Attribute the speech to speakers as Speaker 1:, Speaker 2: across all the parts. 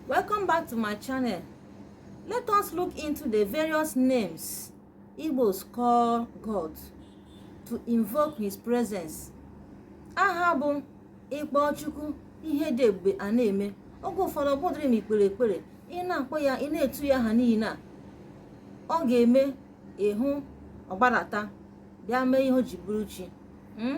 Speaker 1: welcome back to my channel let us look into the various names Igbos call God to invoke his presence aha bụ ị kpọọ Chukwu ihe dị ebube a na-eme oge ụfọdụ ọ bụdịrị ma i kpere ekpere ị na-akpọ ya ị na-etu ya aha niile a ọ ga-eme ị hụ ọ gbadata bịa mee ihe o ji bụrụ chi hmm?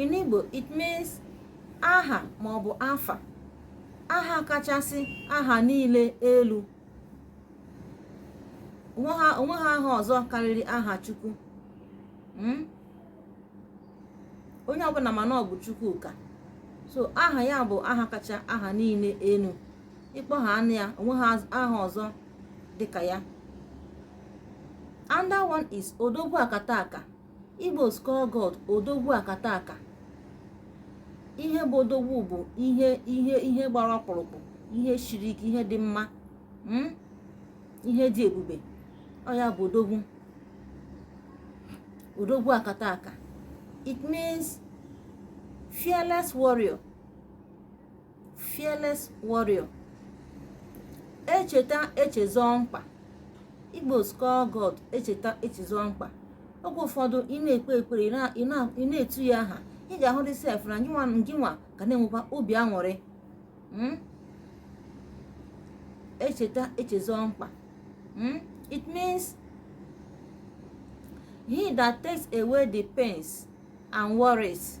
Speaker 1: in Igbo it means aha ma ọ bụ afa aha kachasị aha niile elu o nweghị aha ọzọ karịrị aha Chukwu hmm? onye ọbụla ma na ọ bụ Chukwu ka so aha ya bụ aha kacha aha niile elu ị kpọọ aha a nụ ya o nweghị aha ọzọ dịka ya another one is odogwu akataka Igbos call God odogwu akataka ihe bụ odogwu bụ ihe ihe ihe gbara ọkpụrụkpụ ihe shiri ike ihe dị mma hmm? ihe dị ebube ọ ya bụ odogwu odogwu akataka it means fearless warrior fearless warrior echeta echezọ mkpa Igbos call God echeta echezọ mkpa oge ụfọdụ ị na-ekpe ekpere ị na- ị na- ị na-etu ya aha ị ga-ahụdị sef na ngịnwa ngịnwa ka na-enwekwa obi aṅụrị Mm? echeta echezọ mkpa Mm? it means he that takes away the pains and worries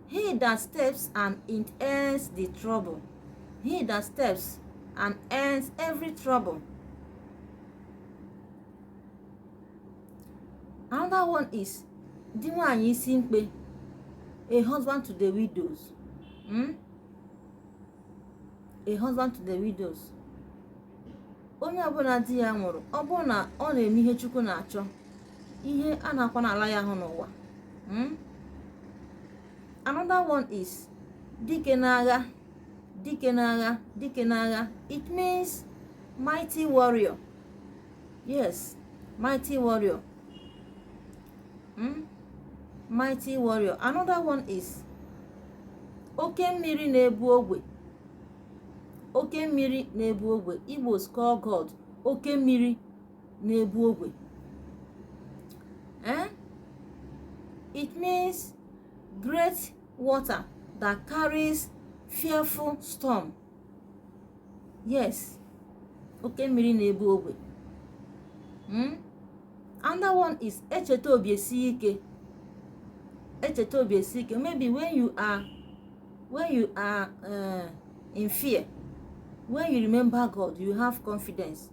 Speaker 1: He that steps and it ends the trouble. He that steps and ends every trouble. Another one is di nwaanyị isi mkpe a husband to the widows hmm? a husband to the widows onye ọbụla di ya nwụrụ ọ bụrụ na ọ na-eme ihe chukwu na-achọ ihe a na-akwa n'ala ya ahụ n'ụwa hmm? another one is dike n'agha dike n'agha dike n'agha it means mighty warrior yes mighty warrior hmm? mighty warrior another one is oke mmiri na-ebu ogwe oke mmiri na-ebu ogwe Igbos call God oke mmiri na-ebu ogwe eh? it means great water that carries fearful storm yes oke mmiri na-ebu ogwe hmm? another one is echeta obi esi ike echeta obi esi ike maybe when you are when you are uh, in fear when you remember god you have confidence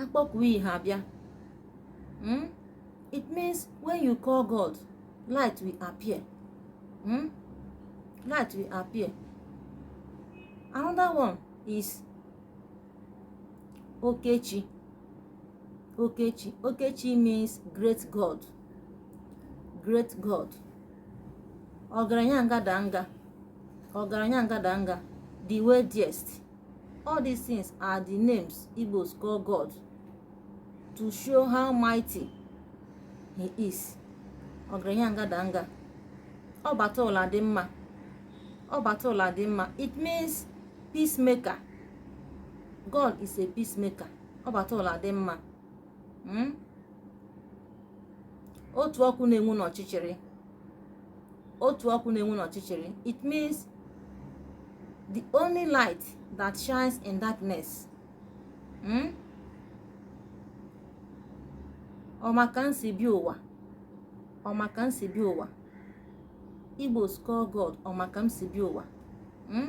Speaker 1: akpọku iyi ha bịa hmm? it means when you call God light will appear hmm? light will appear another one is Okechi Okechi Okechi means great God great God ọgaranya ngadanga ọgaranya ngadanga the wealthiest All these things are the names Igbos call God to show how mighty he is. Ọgaranya ngadanga. Ọ bata ụlọ adị mma. Ọ bata ụlọ adị mma. It means peacemaker. God is a peacemaker. Ọ bata ụlọ adị mma. Hmm? Otu ọkụ na-enwu n'ọchịchịrị. otu ọkụ na-enwu n'ọchịchịrị it means the only light that shines in darkness hmm? ọ ma ka m si bịa ụwa ọ ma ka m si bịa ụwa Igbos call God ọ ma ka m si bịa ụwa hmm?